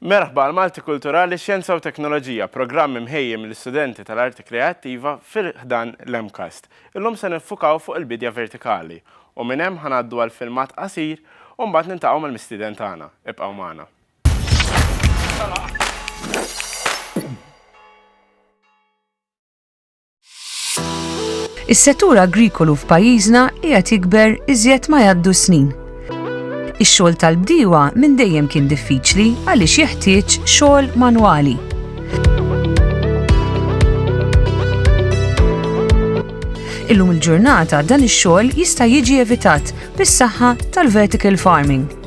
Merħba għal Malti Kulturali, Xjenza u Teknoloġija, programm imħejji mill-istudenti tal-Arti Kreattiva fi ħdan l-MCAST. Illum se niffukaw fuq il-bidja vertikali u minn hemm ħa ngħaddu għal filmat qasir u mbagħad niltaqgħu mal-mistieden tagħna. Ibqgħu magħna. Is-settur agrikolu f'pajjiżna qiegħed jikber iżjed ma jgħaddu s-snin. Ix-xogħol tal-bdiewa minn dejjem kien diffiċli għaliex jeħtieġ xogħol manwali. Illum il-ġurnata dan ix-xogħol jista' jiġi evitat bis-saħħa tal-vertical farming.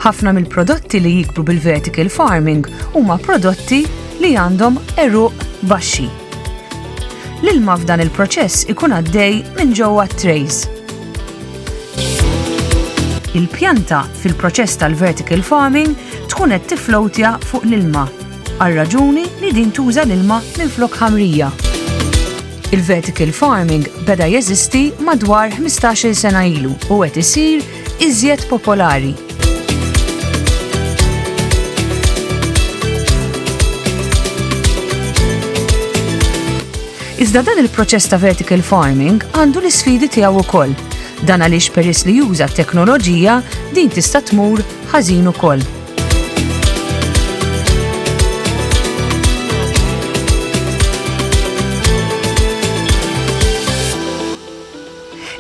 Ħafna mill-prodotti li jikbru bil-vertical farming huma prodotti li għandhom eruq baxxi. L-ilma f'dan il-proċess ikun għaddej minn ġewwa trays. Il-pjanta fil-proċess tal-vertical farming tkun qed tiflowtja fuq l-ilma għar-raġuni li din tuża l-ilma minflok ħamrija. Il-vertical farming beda jeżisti madwar 15-il sena ilu u qed isir iżjed popolari. Iżda dan il-proċess ta' vertical farming għandu l-isfidi tiegħu wkoll. Dan għaliex peress li juża t-teknoloġija din tista' tmur ħażin ukoll.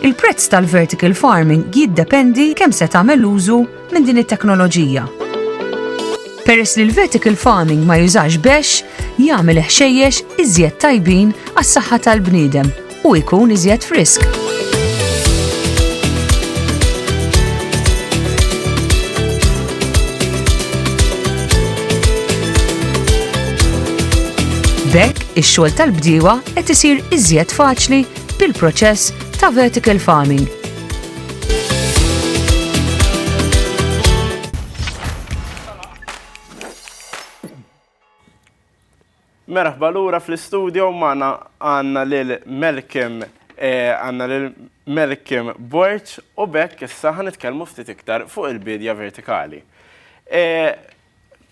Il-prezz tal-vertical farming jiddependi kemm se tagħmel użu minn din it-teknoloġija. Peress li l-vertical farming ma jużax bex, jagħmel ħxejjex iżjed tajbin għas-saħħa tal-bniedem u jkun iżjed frisk. B'hekk, ix-xogħol tal-bdiewa qed isir iżjed faċli bil-proċess ta' vertical farming. Merħba lura fl-istudio magħna għandna lil Melkim eh, għandna lil Melkim Borċ u bekk issa ħanitkellmu ftit iktar fuq il-bidja vertikali. Eh,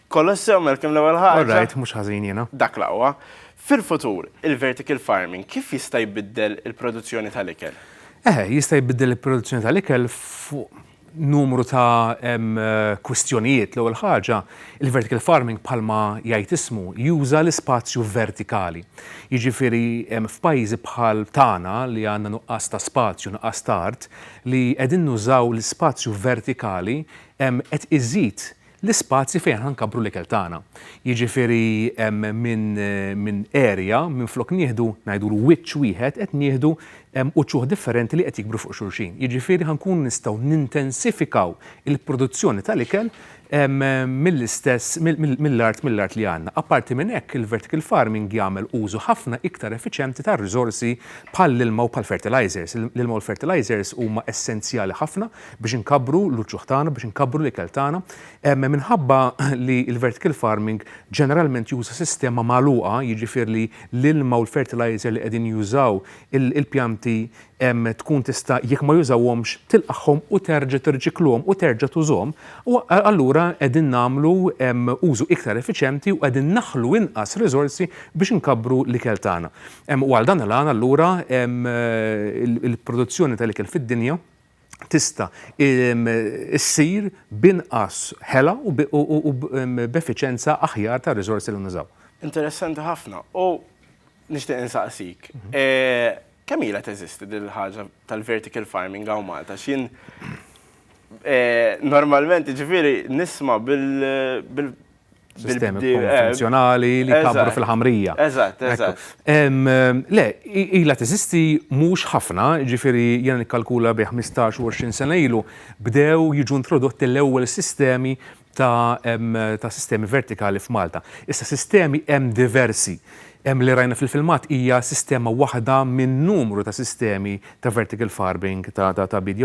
kollox sew Melkim l-ewwel ħaġa. Alright, mhux ħażin jiena. Dak laqwa. Fil-futur, il-vertical farming kif jista' jbiddel il-produzzjoni tal-ikel? Eh, jista' jbiddel il-produzzjoni tal-ikel fuq numru ta' kwistjonijiet. L-ewwel ħaġa, il-vertical farming bħalma jgħid ismu juża l-ispazju vertikali. Jiġifieri f'pajjiżi bħal tagħna li għandna nuqqas ta' spazju, nuqqas ta' art, li qegħdin nużaw l-ispazju vertikali qed iżid l-ispazji fejn aħna nkabbru l-ikel tagħna. Jiġifieri minn area, minflok nieħdu, ngħidulu wiċċ wieħed, qed nieħdu uċuħ differenti li qed jikbru fuq xulxin. Jiġifieri ħa nkunu nistgħu nintensifikaw il-produzzjoni tal-ikel mill-istess, mill-art mill-art li għandna. Apparti minn hekk, il-vertical farming jagħmel użu ħafna iktar effiċjenti tar-riżorsi bħall-ilma u bħall-fertilizers. L-ilma u l-fertilizers huma essenzjali ħafna biex inkabbru l-uċuħ tagħna, biex inkabbru l-ikel tagħna. Minħabba li l-vertical farming ġeneralment juża sistema magħluqa, jiġifieri li l-ilma u l-fertilizer li qegħdin jużaw il-pjanti tkun tista' jekk ma jużawhomx tilqagħhom u terġa' tirriċikluhom u terġa' tużhom, allura qegħdin nagħmlu użu iktar effiċjenti u qegħdin naħlu inqas riżorsi biex inkabbru l-ikel tagħna. U għal dan il-għan allura il-produzzjoni tal-ikel fid-dinja tista' ssir b'inqas ħela u b'effiċjenza aħjar tar-riżorsi li nużaw. Interessanti ħafna. U nixtieq insaqsik, kemm ilha teżisti din il-ħaġa tal-vertical farming hawn Malta? Għax jien normalment jiġifieri nisma' bil, sistemi konvenzjonali li kabru fil-ħamrija. Eżatt, eżatt. Le, ila teżisti mhux ħafna, ġifieri jiena nikkalkula bi 15 u 20 sena ilu, bdew jiġu introdotti l-ewwel sistemi ta' sistemi vertikali f'Malta. Issa sistemi hemm diversi. Hemm li rajna fil-filmat hija sistema waħda minn numru ta' sistemi ta' vertical farming, ta' tgħabbid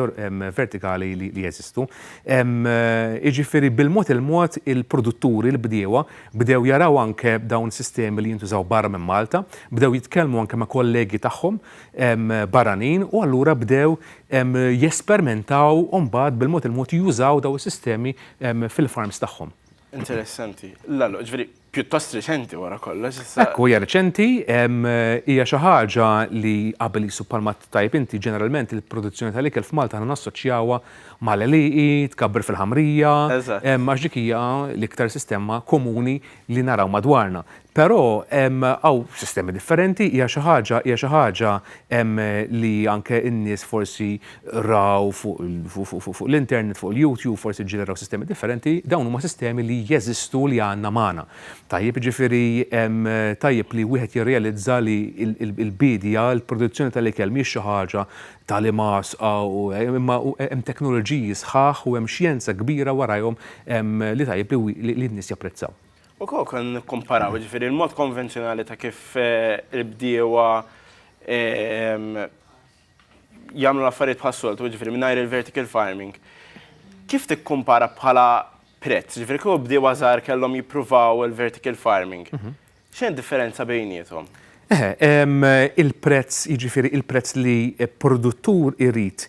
vertikali li jeżistu. Jiġifieri bil-mod il-mod il-produtturi, il-bdiewa, bdew jaraw anke dawn sistemi li jintużaw barra minn Malta, bdew jitkellmu anke ma' kollegi tagħhom barranin u allura bdew jespermentaw u mbagħad bil-mod il-mod jużaw dawn is-sistemi fil-farms tagħhom. Interessanti. Lallo, jiġifieri pjuttost riċenti wara kollox issa. Hekk hu, hija riċenti, hija xi ħaġa li qabel qisu bħalma tajjeb inti ġeneralment il-produzzjoni tal-ikel f'Malta aħna nassoċjawha mal-għelieqi, tkabbir fil-ħamrija, għax dik hija l-iktar sistema komuni li naraw madwarna. Però hawn sistemi differenti, hija xi ħaġa, hija xi ħaġa li anke n-nies forsi raw fuq l-internet, fuq il-YouTube, forsi ġġeneraw sistemi differenti, dawn huma sistemi li jeżistu u li għandna magħna. Tajjeb, jiġifieri tajjeb li wieħed jirrealizza li l-biedja, il-produzzjoni tal-ikel mhijiex xi ħaġa ta' l-imgħasqa u imma hemm teknoloġiji sħaħ u hemm xjenza kbira warajhom li tajjeb li n-nies japprezzaw. U kieku konna nikkumparaw, jiġifieri l-mod konvenzjonali ta' kif il-bdiewa jagħmlu l-affarijiet bħas-soltu, jiġifieri mingħajr il-vertical farming, kif tikkumpara bħala prezz? Jiġifieri kieku bdiewa żgħar kellhom jippruvaw il-vertical farming, mhm. x'hemm differenza bejniethom? Il-prezz, jiġifieri il-prezz li produttur irid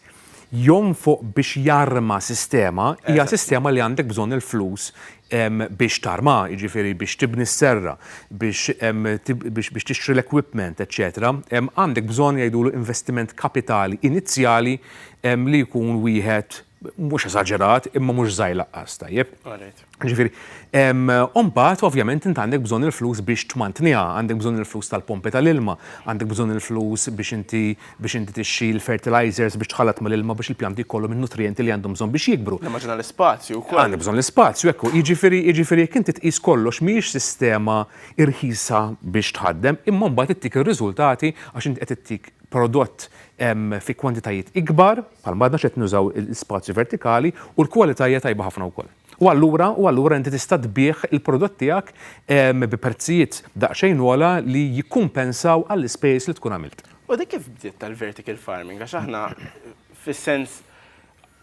jonfoq biex jarma sistema, hija sistema li għandek bżonn il-flus biex tarma, jiġifieri biex tibni s-serra, biex tixtri l-equipment, eċċetera, għandek bżonn jgħidulu investiment kapitali inizjali li jkun wieħed mhux eżaġerat imma mhux żgħir lanqas, tajjeb? Alright. Jiġifieri, u mbagħad ovvjament int għandek bżonn il-flus biex tmantniha, għandek bżonn il-flus tal-pompi tal-ilma, għandek bżonn il-flus biex inti biex inti tixxi fertilizers biex tħallat mal-ilma biex il-pjanti jkollhom in-nutrijenti li għandhom bżonn biex jikbru. Nimmaġina l-ispazju wkoll. Għandek bżonn l-ispazju, hekk hu. Jiġifieri, jiġifieri jekk inti tqis kollox mhijiex sistema irħisa biex tħaddem, imma mbagħad ittik ir-riżultati għax inti qed ittik prodott fi kwantitajiet ikbar, bħalma għadna x'qed nużaw l-ispazju vertikali, u l-kwalità hija tajba ħafna wkoll. U allura, u allura inti tista' tbigħ il-prodott tiegħek bi prezzijiet daqsxejn ogħla li jikkumpensaw għall-ispejjeż li tkun għamilt. U dik kif bdiet tal-vertical farming? Għax aħna fis-sens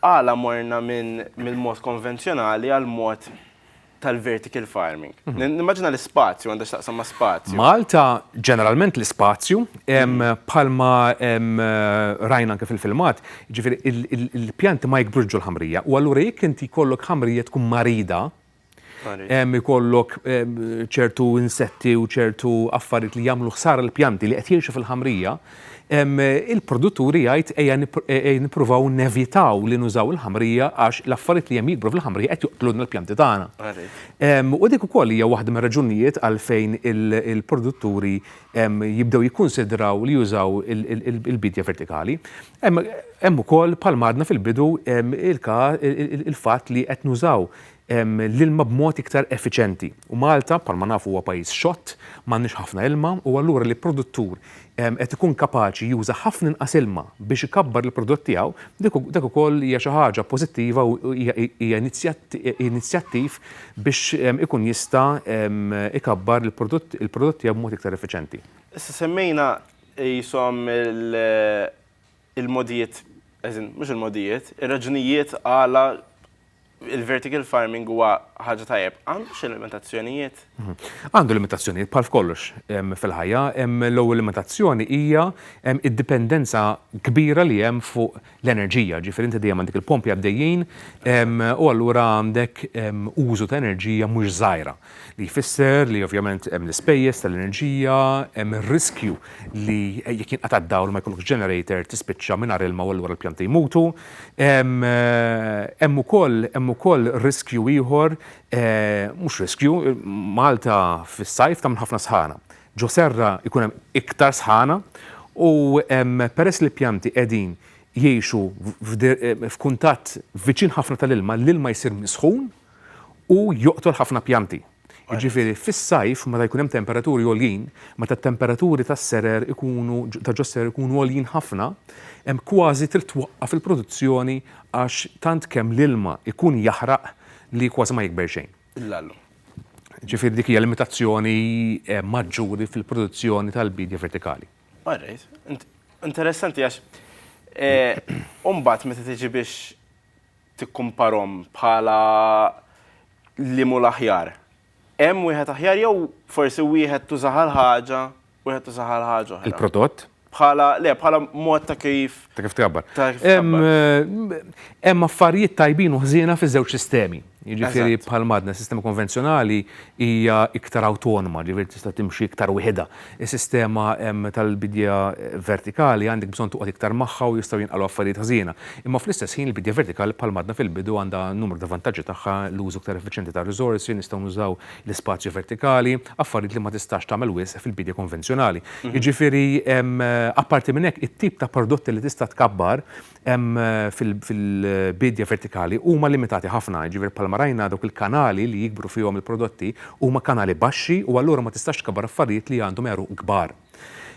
għala morna minn mill-mod konvenzjonali għall-mod tal-vertical farming? Nimmaġina l-ispazju għandha x'taqsam ma' spazju. Malta ġeneralment l-ispazju bħalma rajna anke fil-filmat Jiġifieri il-pjanti ma jikbrux ġol-ħamrija u allura jekk inti jkollok ħamrija tkun marida, ikollok ċertu insetti u ċertu affarijiet li jagħmlu ħsara lill-pjanti li qed jgħixu fil-ħamrija, il-produttur jgħid ejja nippruvaw nevitaw li nużaw il-ħamrija għax l-affarijiet li hemm jikbru fil-ħamrija qed joqtlulna l-pjanti tagħna. U dik ukoll hija waħda mir-raġunijiet għalfejn il-produtturi jibdew jikkunsidraw li jużaw il-bidja vertikali. Hemm ukoll, bħal ma għadna fil-bidu, il-fatt li qed nużaw l-ilma b'mod iktar effiċjenti. U Malta, bħal ma nafu, huwa pajjiż xott, m'għandniex ħafna ilma, u allura li produttur qed ikun kapaċi juża ħafna inqas ilma biex ikabbar il-prodott tiegħu, dik ukoll hija xi ħaġa pożittiva u hija inizjattiv biex ikun jista' ikabbar il-prodott tiegħu b'mod iktar effiċjenti. Issa semmejna qishom il-mogħdijiet, as in, mhux il-mogħdijiet, ir-raġunijiet għala l-vertical farming huwa ħaġa tajjeb. Għandu xi limitazzjonijiet? Għandu limitazzjonijiet bħal f'kollox fil-ħajja. L-ewwel limitazzjoni hija d-dipendenza kbira li hemm fuq l-enerġija, jiġifieri inti dejjem għandek il-pompi għaddejjin u allura għandek użu ta' enerġija mhux żgħira, li jfisser li ovvjament hemm l-ispejjeż tal-enerġija, hemm ir-riskju li jekk jinqata' d-dawl u ma jkollokx generator tispiċċa mingħajr ilma u allura l-pjanti jmutu. Hemm ukoll, hemm ukoll riskju ieħor, mhux riskju, Malta fis-sajf tagħmel ħafna sħana. Ġo serra jkun hemm iktar sħana u peress li l-pjanti qegħdin jgħixu f'kuntatt viċin ħafna tal-ilma, l-ilma jsir misħun u joqtol ħafna pjanti. Jiġifieri fis-sajf meta jkun hemm temperaturi għoljin, meta t-temperaturi tas-serer ikunu, ta' ġo s-serer ikunu għoljin ħafna, hemm kważi trid twaqqaf il-produzzjoni għax tant kemm l-ilma jkun jaħraq li kważi ma jikber xejn. l-allu. Ġifieri dik hija limitazzjoni maġġuri fil-produzzjoni tal-biedja vertikali. All right. Interessanti għax u mbagħad meta tiġi biex tikkumparhom bħala liema hu l-aħjar, hemm wieħed aħjar jew forsi wieħed tużaha l-ħaġa wieħed isaħħar ħaġa oħra. Il-prodott? Bħala, le, bħala mod ta' kif. Ta' kif tkabbar. Hemm affarijiet tajbin u ħżiena fiż-żewġ sistemi. Jiġifieri bħal madna, sistema konvenzjonali hija iktar awtonoma, ġifieri tista' timxi iktar wieħedha. Is-sistema tal-bidja vertikali għandek bżonn toqgħod iktar magħha u jistgħu jinqalgħu affarijiet ħżiena. Imma fl-istess ħin il-bidja vertikali bħal madna fil-bidu għandha numru ta' vantaġġi tagħha, l-użu iktar effiċjenti tar-riżorsi, nistgħu nużaw l-ispazju vertikali, affarijiet li ma tistax tagħmel wisq fil-biedja konvenzjonali. Jiġifieri, apparti minn hekk, it-tip ta' prodotti li tista' tkabbar fil-biedja vertikali huma limitati ħafna. Jiġifieri, bħalma rajna, dawk il-kanali li jikbru fihom il-prodotti huma kanali baxxi u allura ma tistax tkabbar affarijiet li għandhom għeruq kbar.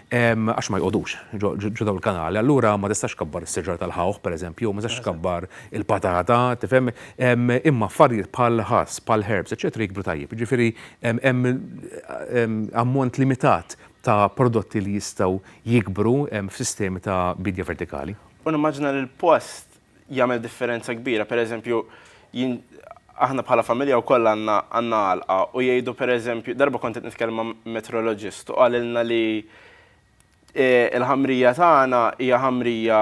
Għax ma jqogħdux ġo dawn il-kanali. Allura ma tistax tkabbar is-siġra tal-ħawħ, pereżempju, ma tistax tkabbar il-patata, tifhem? Imma affarijiet bħall-ħass, bħall-herbs, eċċetera jikbru tajjeb. Jiġifieri hemm ammont limitat ta' prodotti li jistgħu jikbru f'sistemi ta' biedja vertikali. U nimmaġina li l-post jagħmel differenza kbira. Pereżempju, jien aħna bħala familja wkoll għandna għandna għalqa u jgħidu pereżempju darba kont qed nitkellem ma' meteoroloġist u qalilna li l-ħamrija tagħna hija ħamrija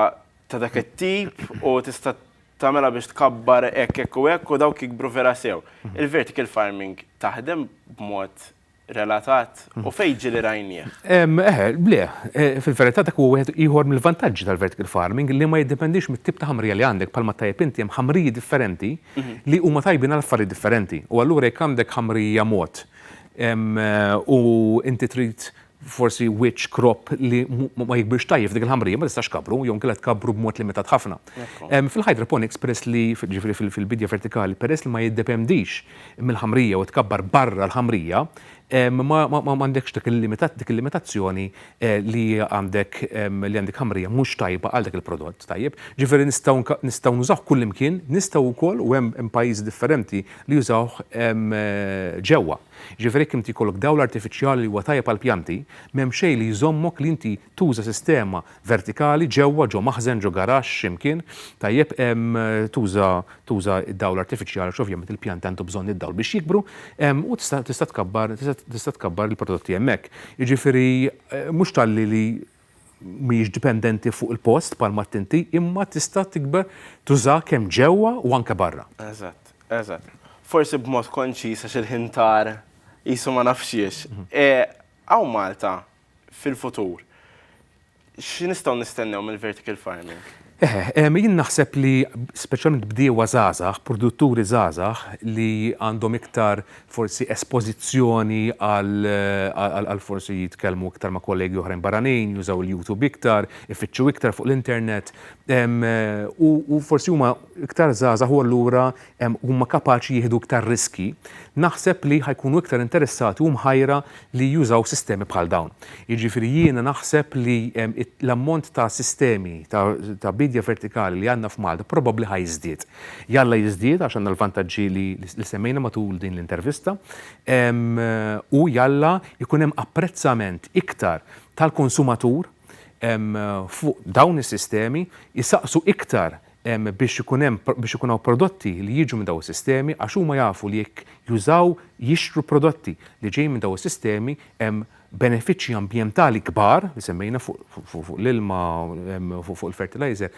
ta' dak it-tip u tista' tagħmilha biex tkabbar hekk hekk u hekk u dawk jikbru vera sew. Il-vertical farming taħdem b'mod relatat u fejn ġieli rajnieh? Eħe, le, fil-verità dak huwa wieħed ieħor mill-vantaġġi tal-vertical farming li ma jiddependix mit-tip ta' ħamrija li għandek bħalma tajjeb inti hemm ħamriji differenti li huma tajbin għal affarijiet differenti u allura jekk għandek ħamrija mod u inti trid forsi which crop li ma jikbirx tajjeb f'dik il-ħamrija ma tistax tkabbru jew inkella tkabbru b'mod limitat ħafna. Fil-hydroponics peress li, jiġifieri fil-bidja vertikali, peress li ma jiddependix mill-ħamrija u tkabbar barra l-ħamrija, m'għandekx dik il-limitazzjoni li għandek li għandek ħamrija mhux tajba għal dak il-prodott, tajjeb? Ġifieri nistgħu nistgħu nużawh kullimkien, nistgħu wkoll u hemm hemm pajjiżi differenti li jużawh ġewwa. Ġifieri jekk inti jkollok dawl artifiċjali li huwa tajjeb għall-pjanti, m'hemm xejn li jżommok li inti tuża sistema vertikali ġewwa, ġo maħżen, ġo garaxx, xi mkien, tajjeb, tuża tuża d-dawl artifiċjali għax ovvjament il-pjanti għandhom bżonn id-dawl biex jikbru, u tista' tista' tkabbar tista' tkabbar il-prodotti hemmhekk. Jiġifieri mhux talli li mhijiex dipendenti fuq il-post bħalma għedt inti, imma tista' tikber tużaha kemm ġewwa u anke barra. Eżatt, eżatt. Forsi b'mod konċiż għax il-ħin tar qisu ma naf x'hiex. Hawn Malta fil-futur, xi nistgħu nistennew mill-vertical farming? Eħe, jien naħseb li speċjalment bdiewa żgħażagħ, produtturi żgħażagħ li għandhom iktar forsi espożizzjoni għal forsi jitkellmu iktar ma' kollegi oħrajn barranin, jużaw il-YouTube iktar, ifittxu iktar fuq l-internet u forsi huma iktar żgħażagħ u allura huma kapaċi jieħdu iktar riskji, naħseb li ħa jkunu iktar interessati u mħajra li jużaw sistemi bħal dawn. Jiġifieri jiena naħseb li l-ammont ta' sistemi ta' biedja vertikali li għandna f'Malta probabbli ħa jiżdied. Jalla jiżdied għax għandna l-vantaġġi li semmejna matul din l-intervista u jalla jkun hemm apprezzament iktar tal-konsumatur fuq dawn is-sistemi, isaqsu iktar biex ikun hemm biex ikun hawn prodotti li jiġu minn dawn is-sistemi għax huma jafu li jekk jużaw jixtru prodotti li ġejjin minn dawn is-sistemi hemm benefiċċji ambjentali kbar li semmejna fuq l-ilma u fuq il-fertilizer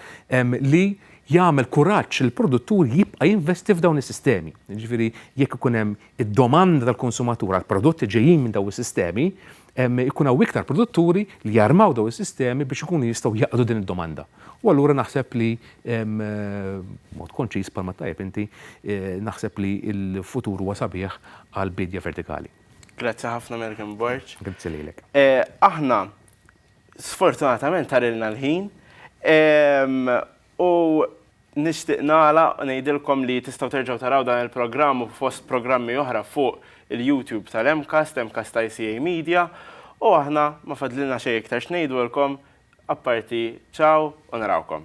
li jagħmel kuraġġ lill-produttur jibqa' jinvesti f'dawn is-sistemi. Jiġifieri jekk ikun hemm id-domanda tal-konsumatur għall-prodotti ġejjin minn dawn is-sistemi, ikun hawn iktar produtturi li jarmaw dawn is-sistemi biex ikunu jistgħu jaqdu din id-domanda. U allura naħseb li b'mod konċiż bħalma tajjeb inti, naħseb li l-futur huwa sabiħ għall-biedja vertikali. Grazzi ħafna American Borg. Grazzi lilek. Aħna sfortunatament tarilna l-ħin U nixtieq nagħlaq u ngħidilkom li tistgħu terġgħu taraw dan il-programm u fost programmi oħra fuq il-YouTube tal-MCAST, MCAST ICA Media, u aħna ma fadlilna xejn iktar x'ngħidulkom apparti ciao u narawkom.